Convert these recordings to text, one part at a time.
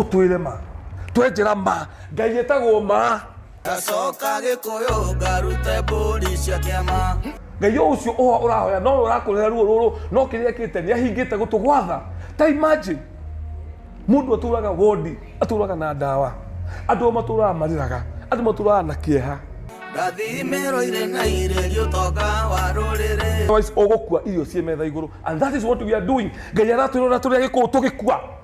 ũtwĩre ma twenjera ma ngai ĩtagwo ma gacoka gĩkũyũ ngarute mbũri cia kĩama ngai o ũcio ũho ũrahoya no ũrakũrera ruo rũrũ no kĩrĩa kĩte nĩ ahingĩte gũtũgwatha ta imagine mũndũ atũraga wondi atũraga na ndawa andũ matũraga marĩraga andũ matũraga na kĩeha ndathimĩrwo irĩ na irĩrio tonga wa rũrĩrĩ Otherwise, ũgũkua irio ciĩ metha igũrũ and that is what we are doing ngai aratwĩrora tũrĩa gĩkũũ tũgĩkua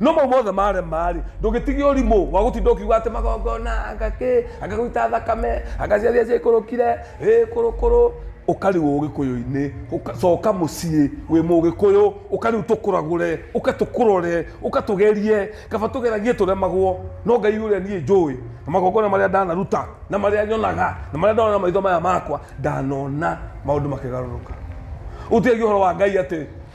no mau mothe marema-rĩ ndũgĩtige ũrimũ wa gũtinda ũkiuga atĩ magongona anga kĩ anga gũita thakame anga ciathia ciaikũrũkire ĩ kũrũkũrũ ũkarigwo ũgĩkũyũ-inĩ ũka- coka mũciĩ wĩ mũgĩkũyũ ũka rĩu tũkũragũre ũka tũkũrore ũka tũgerie kaba tũgeragie tũremagwo no ngai ũrĩa niĩ njũĩ na magongona marĩa ndanaruta na marĩa nyonaga na marĩa ndona na maitho maya makwa ndanona maũndũ makĩgarũrũka ũtigagia ũhoro wa ngai atĩ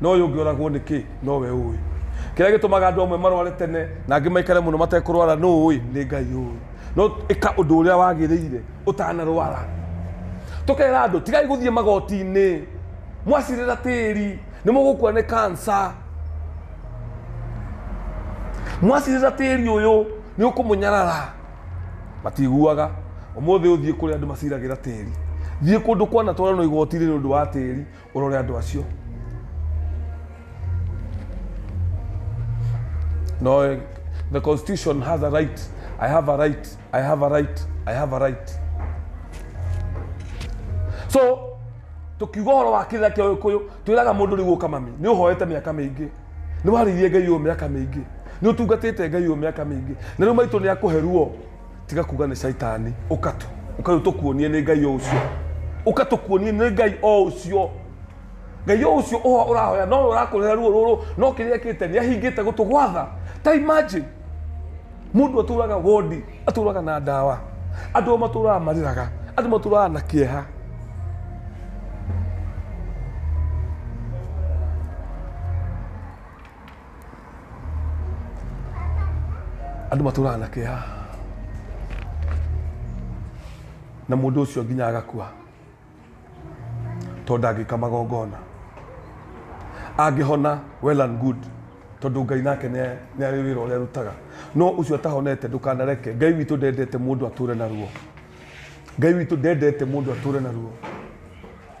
na ũyũ ũngĩ oragwo nĩkĩ nowe ũĩ kĩrĩa gĩtũmaga andũ amwe marware tene na angĩ maikare mũno matekũrwara nũ ũĩ nĩ ngai ũĩ no ĩka ũndũ ũrĩa wagĩrĩire ũtanarwara tũkera andũ tigai gũthiĩ magoti-inĩ mwacirĩra tĩri nĩ mũgũkua nĩ kansa mwacirĩra tĩri ũyũ nĩ ũkũmũnyarara matiguaga ũmũthĩ ũthiĩ kũrĩa andũ maciragĩra tĩri thiĩ kũndũ kwanatwarano igoti-inĩ nĩ ũndũ wa tĩri Ũrore andũ acio. No, eh, the constitution has a right. I have a right. I have a right. I have a right. So, tukiuga horo wa kĩrĩra kĩa ũgĩkũyũ twĩraga mũndũ rĩu ũka mami nĩ ũhoete mĩaka mĩingĩ nĩ warĩirie ngai ũyũ mĩaka mĩingĩ nĩ ũtungatĩte ngai ũyũ mĩaka mĩingĩ na rĩu maitũ nĩ akũhe ruo tiga kuga nĩ caitani ũka tu ũka rĩu tũkuonie nĩ ngai o ũcio ũka tũkuonie nĩ ngai o ũcio ngai o ũcio ũho ũrahoya no ũyũ ũrakũrĩra ruo rũrũ no kĩrĩa ekĩte nĩ ahingĩte gũtũgwatha ta imagine mundu aturaga wodi aturaga na ndawa andu ao maturaga mariraga andu maturaga na kieha andũ matũraga na kĩeha na mũndũ ũcio nginya agakua tondũ ndangĩka magongona angĩhona well and good tondũ ngai nake nĩ nĩ arĩ wĩra ũrĩa arutaga no ũcio atahonete ndũkanareke ngai witũ ndendete mũndũ atũre na ruo ngai witũ ndendete mũndũ atũre na ruo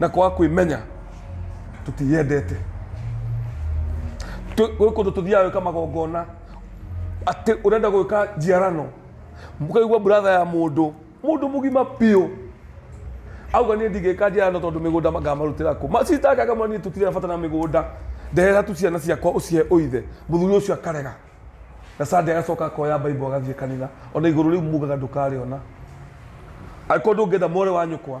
na kwaga kwĩmenya tũtiyendete Tũ- gwĩ kũndũ tũthiaga gwĩka magongona atĩ ũrenda gwĩka njiarano mũkaigua buratha ya mũndũ mũndũ mũgima biũ auga niä ndigä ka njä no tondå mä gå nda ngamarå tä ra kå macitakaga mwa niä tå tirä bata na mä gå nda ndehera tu ciana ciakwa å cihe å ithe må thuri å cio akarega na sande agacoka akoya baibo agathiä kanitha ona igå rå rä u mugaga ndå karä ona angä korwo ndå ngä enda more wa nyå kwa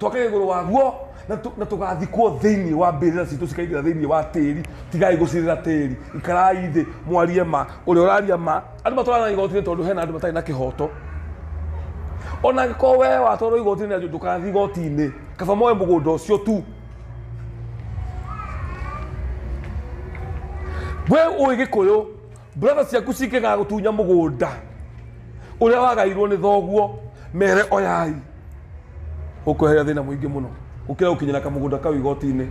twakĩra igũrũ waguo na tũ- na tũgathikwo thĩinĩ wa mbĩrĩra citũ cikaingĩra thĩinĩ wa tĩri tigai gũcirĩra tĩri ikarai thĩ mwarie ma ũrĩa ũraria ma andũ matwarana igotinĩ tondũ hena andũ matarĩ na kĩhoto ona angĩkorwo wee watwarwo igotinĩ na ndũkathi igotinĩ kaba moe mũgũnda ũcio tu we ũĩ gĩkũyũ Brother ciaku cikegaga gũtunya mũgũnda ũrĩa wagairwo nĩ thoguo mere oyai ũkweheria thĩna mũingĩ mũno gũkĩra gũkinyĩra kamũgũnda kau igoti-inĩ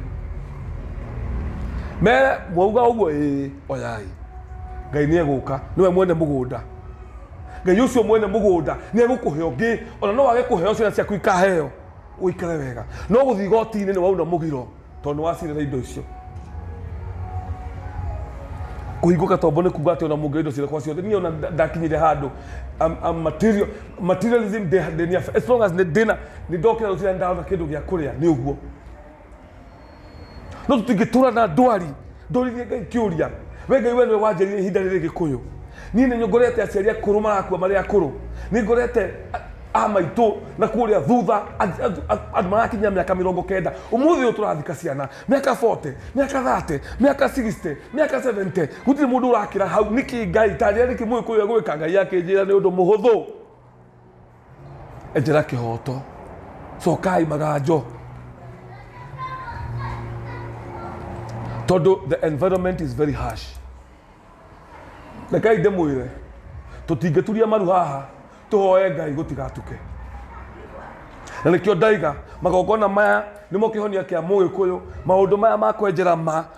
mere mwauga ũguo ĩĩ oyai ngai nĩ egũka nĩwe mwene mũgũnda ngai ũcio mwene mũgũnda nĩ egũkũhe ũngĩ ona no wage kũheo ciana ciaku ikaheo ũikare wega no gũthiĩ igoti-inĩ nĩ wauna mũgiro tondũ nĩ wacindĩra indo icio kũhingũka tombo nĩ kuga atĩ ona mũngĩoya indo ciakwa ciothe niĩ ona nda- ndakinyire handũ I'm- I'm material- materialism ndĩ- ndĩ- ndĩ- as long as nĩ- ndĩna nĩ ndokĩra rũciinĩ na ndarona kĩndũ gĩa kũrĩa nĩ ũguo no tũtingĩtũra na ndwari ndũririe ngai kĩũria we ngai we nĩwe wanjĩrire ihinda rĩrĩ gĩkũyũ niĩ nĩ ngorete aciari akũrũ marakua marĩ akũrũ nĩ ngorete a maitũ na kũrĩa thutha andũ marakinyia mĩaka mĩrongo kenda ũmũthĩ ũyũ tũrathika ciana mĩaka 40 mĩaka 30 mĩaka 60 mĩaka 70 gũtirĩ mũndũ ũrakĩra hau nĩkĩ ngai tanjĩra nĩkĩ mũgĩkũyũ egwĩka ngai akĩnjĩra nĩ ũndũ mũhũthũ ejera kĩhoto cokai maganjo tondũ the environment is very harsh rekai ndĩmwĩre tũtingĩturia maru haha tũhoe ngai gũtigatuke na nĩkĩo ndaiga magongona maya nĩmo kĩhonia kĩa mũgĩkũyũ maũndũ maya ma kwenjera ma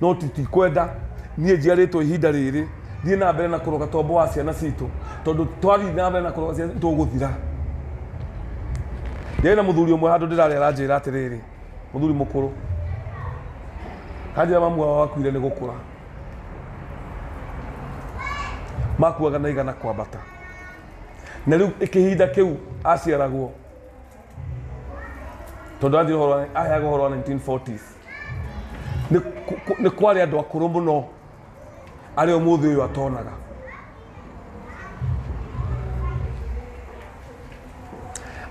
no tũtikwenda niĩ njiarĩtwo ihinda rĩrĩ thiĩ na mbere na kũroga tombo wa ciana citũ tondũ twathiĩ na mbere na kũroga ciana citũ tũgũthira ndĩrĩ na mũthuri ũmwe handũ ndĩrarĩ aranjĩra atĩrĩrĩ mũthuri mũkũrũ kanjĩra mamu wao wakuire nĩ gũkũra makuaga na igana kwambata na rĩu kĩhinda kĩu aciaragwo tondũ athiĩ ũhoro wa- aheaga ũhoro wa 1940s Nĩ ku- ku- nĩ kwarĩ andũ akũrũ mũno arĩa ũmũthĩ ũyũ atonaga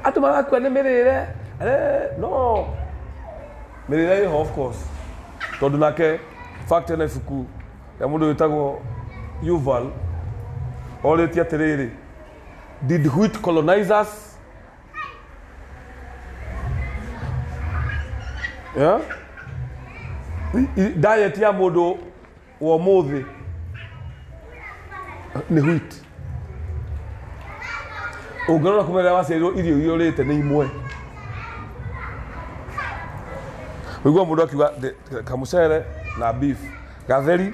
andũ marakua nĩ mĩrĩre eh, no mĩrĩre ĩho of course tondũ nake fact ena ibuku rĩa mũndũ wĩtagwo yuval orĩtie atĩrĩrĩ did white colonizers Yeah? I- i- diet ya mũndũ wa ũmũthĩ nĩ wheat ũngĩrora kuma rĩrĩa waciarirwo irio iria ũrĩte nĩ imwe ũigua mũndũ akiuga "Ndĩ- kamũcere na beef gatheri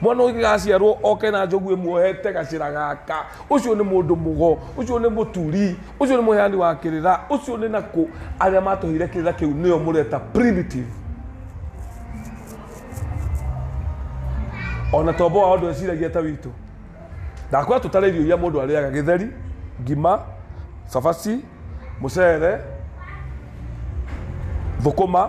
mwana ũyũ gĩgaciarwo oke na njogu ĩmuohete gacĩra gaka ũcio nĩ mũndũ mũgo ũcio nĩ mũturi ũcio nĩ mũheani wa kĩrĩra ũcio nĩ nakũ arĩa matũheire kĩrĩra kĩu nĩo mũreta primitive ona tombo wao ndweciragia ta witũ ndakwĩra tũtare irio iria mũndũ arĩaga gĩtheri ngima cabaci mũcere thũkũma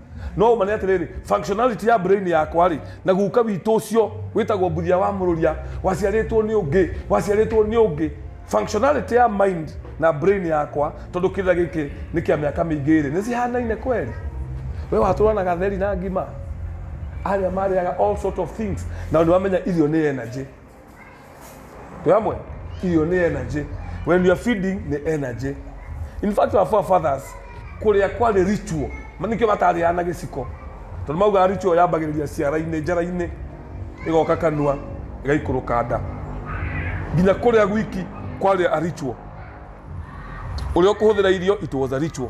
no ũmane atĩrĩrĩ functionality ya brain yakwa rĩ na guka witũ ũcio wĩtagwo mbuthia wa mũrũria waciarĩtwo nĩ ũngĩ waciarĩtwo nĩ ũngĩ functionality ya mind na brain yakwa tondũ kĩrĩa gĩkĩ nĩ kĩa mĩaka mĩingĩ rĩ nĩ cihanaine kweli we watũra na gatheri na ngima arĩa marĩaga all sort of things na nĩ wamenya irio nĩ energy Tuamwe, iyo ni energy. When you are feeding ni energy. In fact, our forefathers kuria kwari ritual. Manikio matariana giciko. Tondu mauga ritual yambagiriria ciara-ini, njara-ini igoka kanua, igaikuruka nda. Nginya kuria gwiki kwari a ritual. Uria ukuhuthira irio it was a ritual.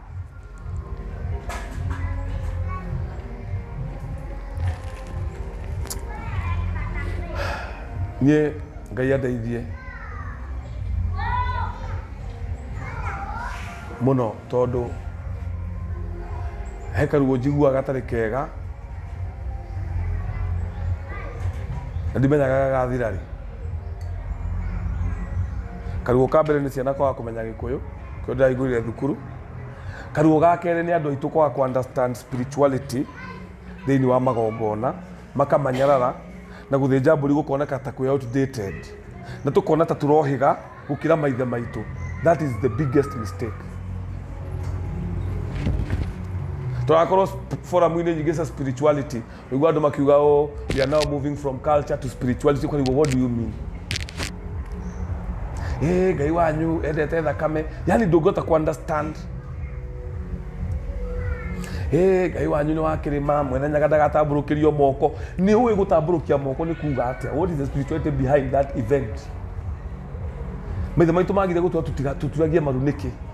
niĩ ngai andeithie mũno tondũ he karuo njiguaga gatarĩ kega na ndimenyaga gagathira rĩ karuo ka mbere nĩ ciana kwaga kũmenya gĩkũyũ Kĩo ndaingũrire thukuru karuo ga kerĩ nĩ andũ aitũ kwaga ku understand spirituality thĩinĩ wa magongona makamanyarara na gũthĩnja mbũri gũkoneka ta kwĩ outdated na tũkona ta tũrohĩga gũkĩra maithe maitũ that is the biggest mistake tũrakorwo sp- forum-inĩ nyingĩ cia spirituality Nĩguo andũ makiuga oh, we are now moving from culture to spirituality. Kwa hivyo, what do you mean? Eh, ngai wanyu endete thakame. Yaani ndũngĩhota ku understand. Eh, ngai wanyu nĩ wa kĩrĩma mwene nyaga ndagatambũrũkĩrio moko. Nĩ ũĩ gũtambũrũkia moko nĩ kuuga atĩa? What is the spirituality behind that event? Maithe maitũ magire gũtua tũtiga- tũturagie maru nĩkĩ?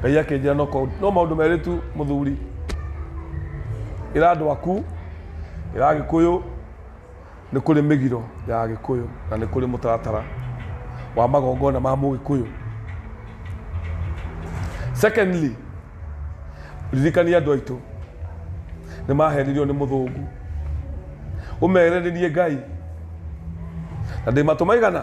ngai akĩnjĩra no kau- no maũndũ merĩ tu mũthuri ĩra andũ aku ĩra agĩkũyũ nĩ kũrĩ mĩgiro ya agĩkũyũ na nĩ kũrĩ mũtaratara wa magongona ma mũgĩkũyũ secondly ririkania andũ aitũ nĩ mahenirio nĩ mũthũngũ ũmere nĩ niĩ ngai na ndĩmatũmaigana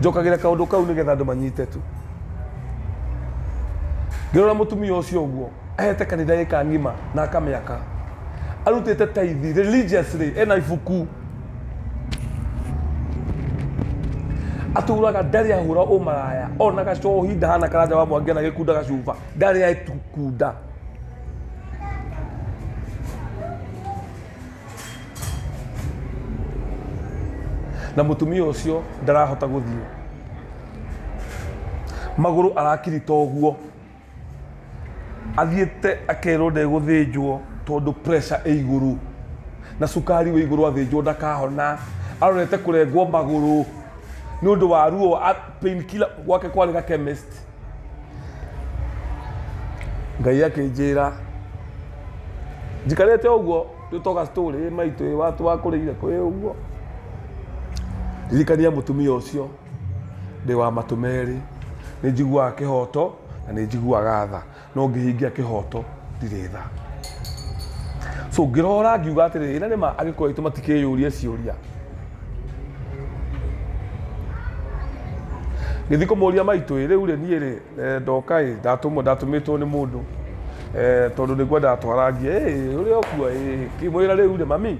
njokagĩre kaũndũ kau nĩ getha andũ manyite tu ngĩrora mũtumia ũcio ũguo ahete kanitha ĩka ng'ima na akamĩaka arutĩte taithi religiously ena ibuku aturaga ndarĩ ahũra ũmaraya ona gacohi ndahana karanja wa mwangi na gĩkunda gacuba ndarĩ atukunda na mutumia ucio ndarahota guthii maguru arakirita uguo athiite akerwo ndeguthinjwo tondu pressure ĩ iguru na cukari wĩ iguru athinjwo ndakahona arorete kurengwo maguru nĩ undu wa ruo a- pain killer gwake kwarĩ ga chemist ngai akĩnjĩra njikarĩte ũguo twĩtoga story ĩ maitũ ĩ watu wakũrĩire kwĩ ũguo ndirikania mũtumia ũcio ndĩ wa matũ merĩ nĩ njiguaga kĩhoto na nĩ njiguaga tha no ngĩhingia kĩhoto ndirĩ tha so ngĩrora ngiuga atĩrĩ ĩna nĩma agĩkũyũ aitũ matikĩyũrie ciũria ngĩthiĩ kũmũria maitũ ĩ rĩu rĩ niĩ rĩ eh, ndoka ĩ ndatũmwo ndatũmĩtwo nĩ mũndũ eh, tondũ nĩguo ndatwarangia ĩ ũrĩa ũkua ĩ kĩmwĩra rĩu rĩ mami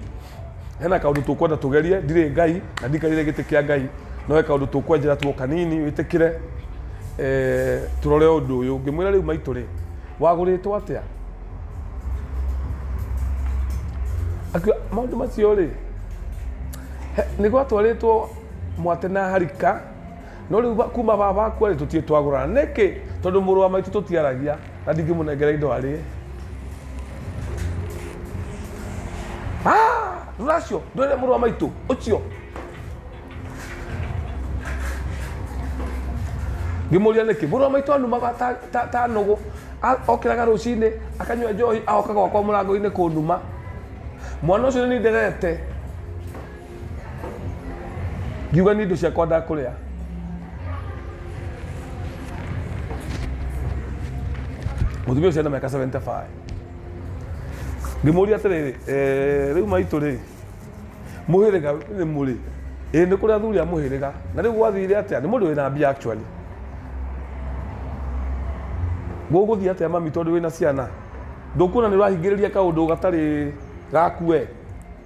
hena kaundu tukwenda tugerie ndire ngai na ndikarire giti kia ngai no he kaundu tukwenjera tuo kanini witikire eh, turore undu uyu ngimwira riu maitu ri waguritwo atia akiwa maundu macio ri nä gwatwarä two mwate na harika No rĩu ba- kuma baba akua rĩ tũtiĩ twagũrana nĩkĩ tondũ mũrũ wa maitũ tũtiaragia na ndingĩmũnengera indo arĩe Ah, rũracio ndwĩre mũrũ wa maitũ ũcio ngĩmũria nĩkĩ mũrũ wa maitũ anumaga ta- ta- ta nũgũ A- okĩraga rũcinĩ akanyua njohi aoka gwakwa mũrango-inĩ kũnuma mwana ũcio nĩ nderete ngiuga nĩ indo ciakwa ndakũrĩa mũtumia ũcio ena mĩaka 75 ngĩmũria atĩrĩrĩ eh, rĩu maitũ rĩ mũhĩrĩga nĩ mũrĩ ĩ nĩ kũrĩ athuri a mũhĩrĩga na rĩu gwathire atĩa nĩ mũndũ wĩna mbia actually gũgũthiĩ atĩa mami tondũ wĩna ciana ndũkuona nĩ ũrahingĩrĩria kaũndũ gatarĩ gaku we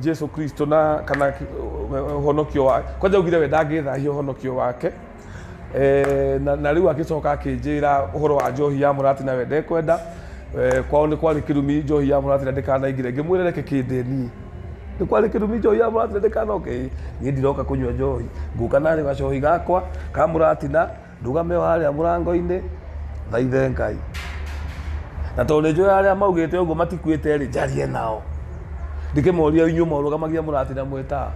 jesu kristo na kana ki- ũhonokio wa kwanja augire we ndangĩthahia ũhonokio wake Eh, na na rĩu agĩcoka akĩnjĩra ũhoro wa njohi ya mũrati na we ndekwenda Eh, kwao nĩ kwarĩ kĩrumi njohi ya mũrati na ndĩkanaingire ngĩmwĩra reke kĩndeni nĩ kwarĩ kĩrumi njohi ya mũrati na ndĩkanoke niĩ ndiroka kũnyua njohi ngũka narĩ gacohi gakwa ka mũratina Ndũgame o harĩa mũrango-inĩ, ũthaithe Ngai. Na tondũ nĩnjũĩ arĩa maugĩte ũguo matikuĩte-rĩ, njarie nao. Ndĩkĩmorie inyuĩ morũgamagia mũratinda mwĩ taa.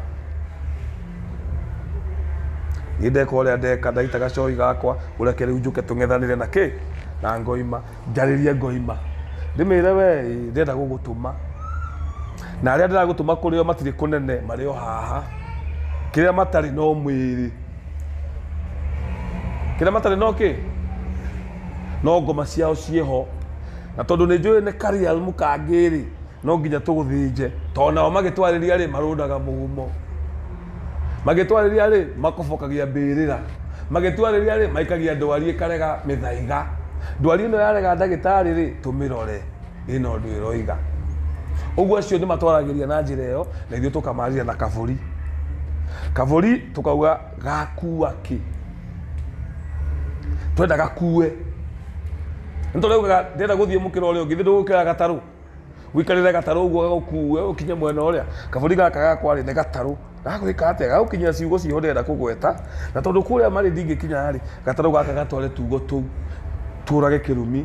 Niĩ ndeka ũrĩa ndeka, ndaita gacoi gakwa, ũreke rĩu njũke tũng'ethanĩre na kĩĩ? Na ngoima. Njarĩrie ngoima. Ndĩmĩre wee-ĩ, ndĩrenda gũgũtũma. Na arĩa ndĩragũtũma kũrĩ o matirĩ kũnene, marĩ o haha. Kĩrĩa matarĩ no mwĩrĩ. kĩrĩa matarĩ no kĩ no ngoma ciao ciĩho na tondũ nĩ njũĩ nĩ karial mũkangĩrĩ no nginya tũgũthĩnje tondũ nao magĩtwarĩria rĩ marũdaga mũgumo magĩtwarĩria rĩ makobokagia mbĩrĩra magĩtwarĩria rĩ maikagia ndwari ĩkarega mĩthaiga ndwari ĩno yarega ndagĩtarĩ rĩ tũmĩrore ĩna ũndũ ĩroiga ũguo acio nĩ matwaragĩria na njĩra ĩyo na ithuĩ tũkamarĩria na kabũri kabũri tũkauga gakua kĩ twenda gakue nĩ tũraugaga ndĩrenda gũthiĩ mũkĩra ũrĩa ũngĩ thĩ ndũgũkĩra gatarũ wikarĩre gatarũ ũguo gagũkue ũkinye mwena ũrĩa kabũri gaka gakwarĩ nĩ gatarũ gagwĩka atĩa gagũkinyia ciugo ciho ndĩrenda kũgweta na tondũ kũrĩa marĩ ndingĩkinya rĩ gatarũ gaka gatware tugo tũu tũrage kĩrumi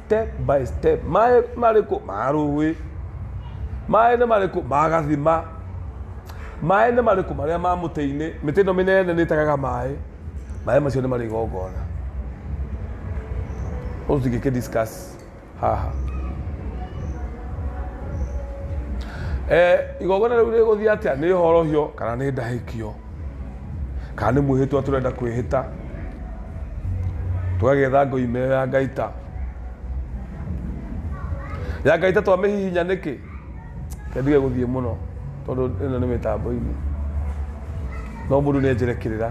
step by step maĩ marĩkũ ma rũĩ maĩ nĩ marĩkũ ma gathima maĩ nĩ marĩkũ marĩa ma mũtĩ-inĩ mĩtĩ ĩno mĩnene nĩ ĩtagaga maĩ maĩ macio nĩ marĩ igongona ũcio tingĩkĩ discuss haha eh, igongona rĩu rĩgũthiĩ atĩa nĩ horohio kana nĩ ndahĩkio kana nĩ mwĩhĩtwa tũrenda kwĩhĩta tũgagetha ngoime ĩyo ya ngaita ya ngaita twamĩhihinya nĩkĩ kendige gũthiĩ mũno tondũ ĩno nĩ mĩtambo-inĩ no mũndũ nĩ enjere kĩrĩra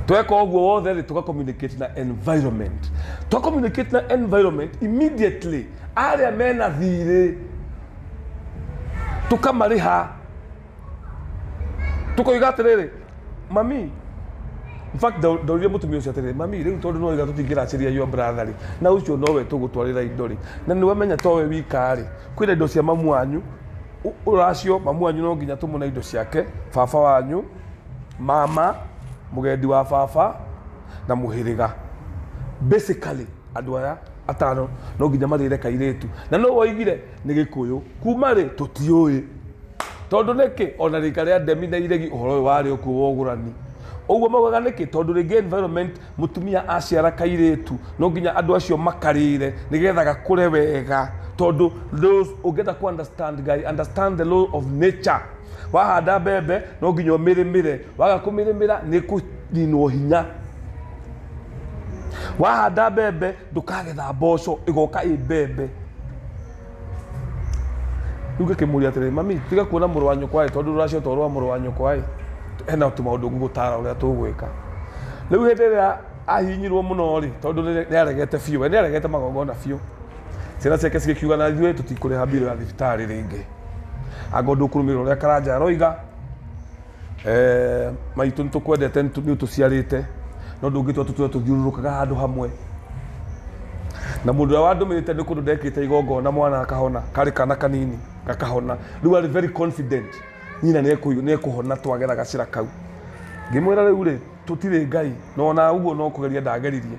tweka ũguo wothe rĩ tũka communicate na environment twa communicate na environment immediately arĩa mena thirĩ tũkamarĩha tũkoiga atĩrĩrĩ mami in fact ndau- ndaũrire mũtumia ũcio atĩrĩrĩ mami rĩu tondũ noiga tũtingĩracĩria your brother rĩ na ũcio nowe tũgũtwarĩra indo rĩ na nĩwamenya towe wika rĩ kwĩna indo cia mamu wanyu Ũ- ũracio mamu wanyu no nginya tũmũne indo ciake baba wanyu mama mũgendi wa baba na mũhĩrĩga basically Andũ aya atano no nginya marĩre kairĩtu. Na nũ woigire nĩ gĩkũyũ? Kuma rĩ? Tũtiũĩ. Tondũ nĩkĩ? Ona rika rĩa Ndemi na Iregi ũhoro ũyũ warĩ o kuo wa ũgũrani. Ũguo maugaga nĩkĩ? Tondũ rĩngĩ environment mũtumia aciara kairĩtu no nginya andũ acio makarĩre nĩ getha gakũre wega. Tondũ those ũngĩenda kũ understand Ngai, understand the law of nature. Wahanda mbembe no nginya ũmĩrĩmĩre. Waga kũmĩrĩmĩra nĩ ĩkũninwo hinya. wahanda mbembe ndũkagetha mboco ĩgoka ĩ mbembe rĩu ngĩkĩmũria atĩrĩ mami tiga kuona mũrũ wa nyũkwa ĩ tondũ rũracio to rwa mũrũ wa nyũkwa ĩ hena tũmaũndũ ngũgũtara ũrĩa tũgwĩka rĩu hĩndĩ ĩrĩa ahinyirwo mũno rĩ tondũ nĩ- nĩaregete biũ we nĩaregete magongona biũ ciana ciake cigĩkiuga na ithuĩ tũtikũrĩha mbirũ ya thibitarĩ rĩngĩ anga ũndũ ũkũrũmĩrĩra ũrĩa karanja aroiga Eh, maitũ nĩ tũkwendete nĩ tũ- nĩ ũtũciarĩte no ndũngĩtua tũtũre tũthiũrũrũkaga handũ hamwe na mũndũ ũrĩa wandũmĩte nĩ kũndũ ndekĩte igongona mwana akahona karĩ kana kanini gakahona rĩu arĩ very confident nyina nĩ ekũyũ- nĩ ekũhona twagera gacĩra kau ngĩmwĩra rĩu rĩ tũtirĩ ngai no na ũguo no kũgeria ndageririe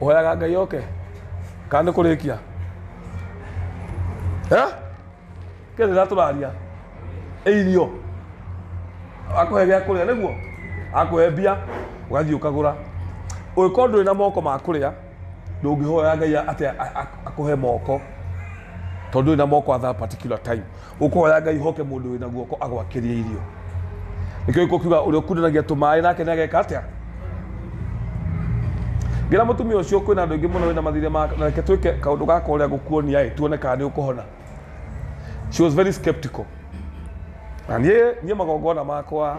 ũhoyaga ngai oke kana nĩ kũrĩkia Eh? kĩrĩa ndĩra tũraria ĩ irio akũhe gĩa kũrĩa nĩguo akũhe mbia ũgathiĩ ũkagũra ũngĩkorwo ndũrĩ na moko ma kũrĩa ndũngĩhoya ngai atĩ a- a- akũhe moko tondũ ndũrĩ na moko at that particular time ũkũhoya ngai hoke mũndũ wĩna guoko agwakĩrie irio nĩkĩo gĩkũ kiuga ũrĩa ũkundanagia tũmaĩ nake nĩ ageka atĩa ngĩra mũtumia ũcio kwĩna andũ aingĩ mũno wĩna mathirĩ ma na reke twĩke kaũndũ gaka ũrĩa gũkuonia ĩ tuone kana nĩ ũkũhona she was very skeptical na niĩ niĩ magongona makwa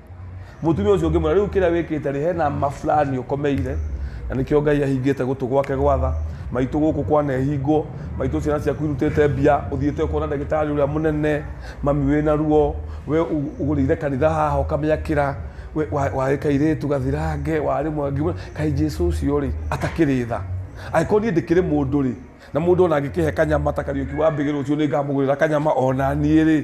mutumia ucio ngimwira riu kiria wikite ri hena ma fulani ukomeire na nikio ngai ahingite gutu gwake gwatha maitu guku kwa nehingwo maitu ciana ciaku irutite mbia uthiite ukona ndagitari uria munene mami wina ruo we u- ugurire kanitha haha ukamiakira we wa- wari kairitu gathirange wari mwe ngimwira kai jesu ucio ri atakiri tha angĩkorwo niĩ ndĩkĩrĩ mũndũ rĩ na mũndũ ona angĩkĩhe kanyama ta kariũki wa mbĩgĩ rũciũ nĩ ngamũgũrĩra kanyama ona niĩ rĩ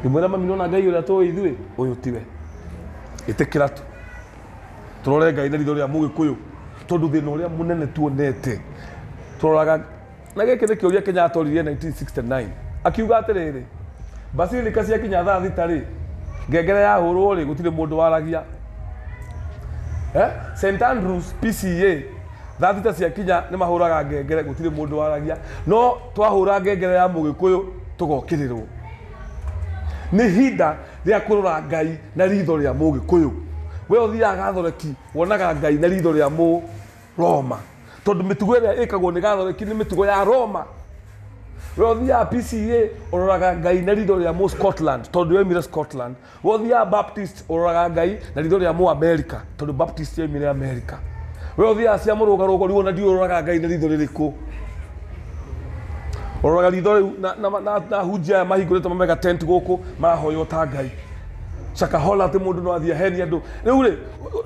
ndimwĩra mami nona ngai ũrĩa tũĩ ithuĩ ũyũ tiwe ĩtĩkĩra tu tũrore ngai na ritho rĩa mũgĩkũyũ tondũ thĩna ũrĩa mũnene tuonete tũroraga na gĩkĩ nĩ kĩũria kenya atoririe 1969 akiuga atĩrĩrĩ basilica ciakinya thaa thita rĩ ngengere yahũrwo rĩ gũtirĩ mũndũ waragia Eh? St Andrews PCA thaa thita ciakinya nĩ mahũraga ngengere gũtirĩ mũndũ waragia no Twahũra ngengere ya Mũgĩkũyũ tũgokĩrĩrwo. Nĩ ihinda rĩa kũrora Ngai na riitho rĩa Mũgĩkũyũ. We ũthiaga Gathoreki wonaga Ngai na riitho rĩa Mũroma. Tondũ mĩtugo ĩrĩa ĩkagwo nĩ Gathoreki nĩ mĩtugo ya Roma. We ũthiaga PCEA ũroraga Ngai na riitho rĩa Mũscotland tondũ yoimire Scotland. Wothiaga Baptist ũroraga Ngai na ritho rĩa mũ America tondũ Baptist yoimire America. We ũthiaga cia mũrũgarũgo rĩu ona ndiũ ũroraga Ngai na ritho rĩrĩkũ. Ũroraga ritho rĩu na, na, na, na hunjia aya mahingũrĩte mamega tent gũkũ marahoywo ta Ngai. Shakahola atĩ mũndũ no athiĩ aheni andũ. Rĩu rĩ,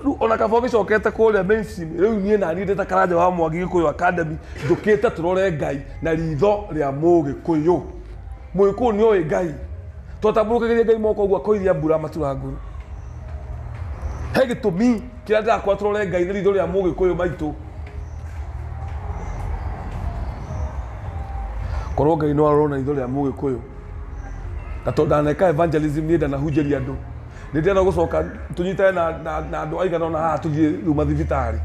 rĩu ona kaba ũgĩcokete kũrĩa mainstream, rĩu niĩ naniĩ ndĩ ta Karanja wa Mwangi Gĩkũyũ Academy njũkĩte tũrore Ngai na ritho rĩa Mũgĩkũyũ. Mũgĩkũyũ nĩ oĩ Ngai. Twatambũrũkagĩria Ngai moko ũguo akoiria mbura matura ngũrũ. He gĩtũmi kĩrĩa ndĩrakora tũrore Ngai na ritho rĩa Mũgĩkũyũ maitũ. Korwo Ngai no arorwo na ritho rĩa Mũgĩkũyũ. Na tondũ ndaneka evangelism niĩ ndanahunjĩria andũ. Nĩ ndĩrenda gũcoka tũnyitane na, na, na andũ aigana ũna haha tũthiĩ rĩu mathibitarĩ.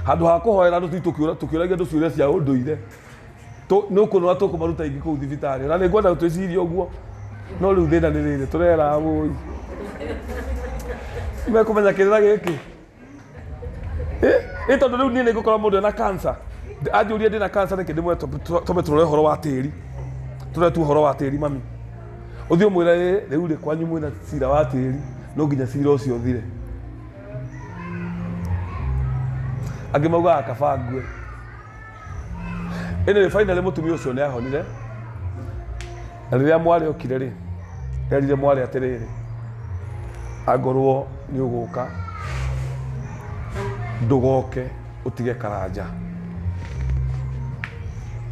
Handũ ha kũhoera andũ tũthiĩ tũkĩũra- tũkĩũragia andũ ciũria cia ũndũire. Tũ- nĩ ũkũnora tũkũmaruta ingĩ kũu thibitarĩ na nĩ ngwenda twĩcirie ũguo no rĩu thĩna nĩ rĩrĩ tũrera wũi mekũmenya kĩrĩra gĩkĩ Eh, ĩ tondũ rĩu niĩ nĩ ngũkora mũndũ ena kansa anjũria ndĩ na kansa nĩkĩ ndĩmwe twambe tũrore ũhoro wa tĩri tũrore tu ũhoro wa tĩri mami ũthiĩ ũmwĩra ĩ rĩu rĩ kwanyu mwĩna cira wa tĩri no nginya cira ũcio ũthire angĩ maugaga kaba ngue Anyway, finally mũtumia ũcio nĩ ahonire na rĩrĩa mwarĩ okire rĩ erire mwarĩ atĩrĩrĩ angorwo nĩ ũgũka ndũgoke ũtige karanja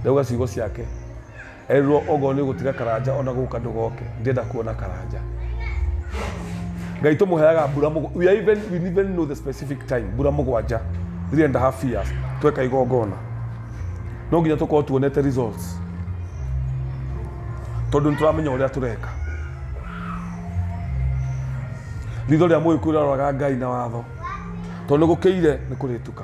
ndauga ciugo ciake Erirwo ogo nĩ ũgũtiga karanja ona gũka ndũgoke ndĩenda kuona karanja ngai tũmũheaga mbura mũgwa- we are even we even know the specific time mbura mũgwanja three and a half years tweka igongona no nginya tũkorwo tuonete results tondũ nĩtũramenya ũrĩa tũreka ritho rĩa mũgĩkũyũ rĩroraga ngai na watho tondũ nĩgũkĩire nĩ kũrĩtuka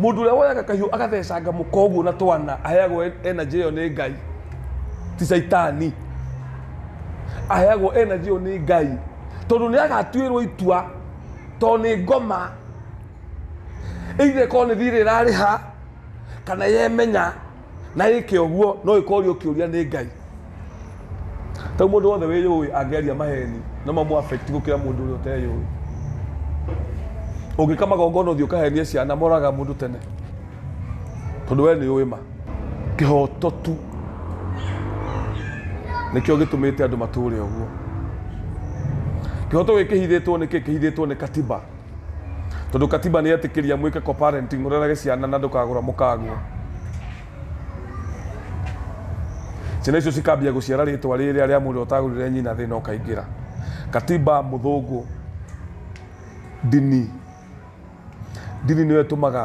Mũndũ ũrĩa woyaga kahiũ agathecanga mũka ũguo na twana aheagwo en- energy ĩyo nĩ Ngai, ti caitani. Aheagwo energy ĩyo nĩ Ngai tondũ nĩ agatuĩrwo itua tondũ nĩ ngoma either ĩkorwo nĩ thiirĩ ĩrarĩha kana yemenya na ĩke ũguo no ĩkorio ũkĩũria nĩ ngai tau mũndũ wothe wĩyũĩ angĩaria maheni no mamũ affect gũkĩra mũndũ ũrĩa ũteyũĩ ũngĩka magongona ũthiĩ ũkahenie ciana moraga mũndũ tene tondũ we nĩ ũĩ ma kĩhoto tu nĩkĩo gĩtũmĩte andũ matũre ũguo kĩhoto gĩkĩhithĩtwo nĩkĩ kĩhithĩtwo nĩ katiba Tondũ katiba nĩ yetĩkĩria mwĩke co-parenting mũrerage ciana na ndũkagũra mũkagwo. Ciana icio cikambia gũciara rĩtwa rĩrĩa rĩa mũndũ ũtagũrire nyina thĩna ũkaingĩra. Katiba mũthũngũ ndini ndini nĩyo ĩtũmaga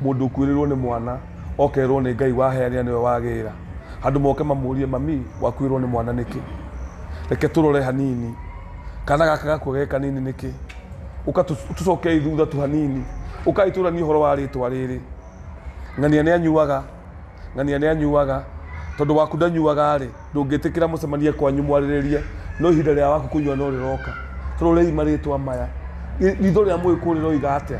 mũndũ ũkuĩrĩrwo nĩ mwana okerwo nĩ Ngai waheanĩra nĩwe wagĩra. Handũ moke mamũrie mami wakuĩrwo nĩ mwana nĩkĩ? Reke tũrore hanini. Kana gaka gakua ge kanini nĩkĩ? ũkatũcokei thutha tu hanini ũkai tũranie ũhoro wa rĩtwa rĩrĩ ng'ania nĩ anyuaga ng'ania nĩ anyuaga tondũ waku ndanyuaga rĩ ndũngĩtĩkĩra mũcemanie kwanyu mwarĩrĩrie no ihinda rĩa waku kũnyua no rĩroka tũrorei marĩtwa maya Ri- ritho rĩa mũgĩkũyũ rĩroiga atĩa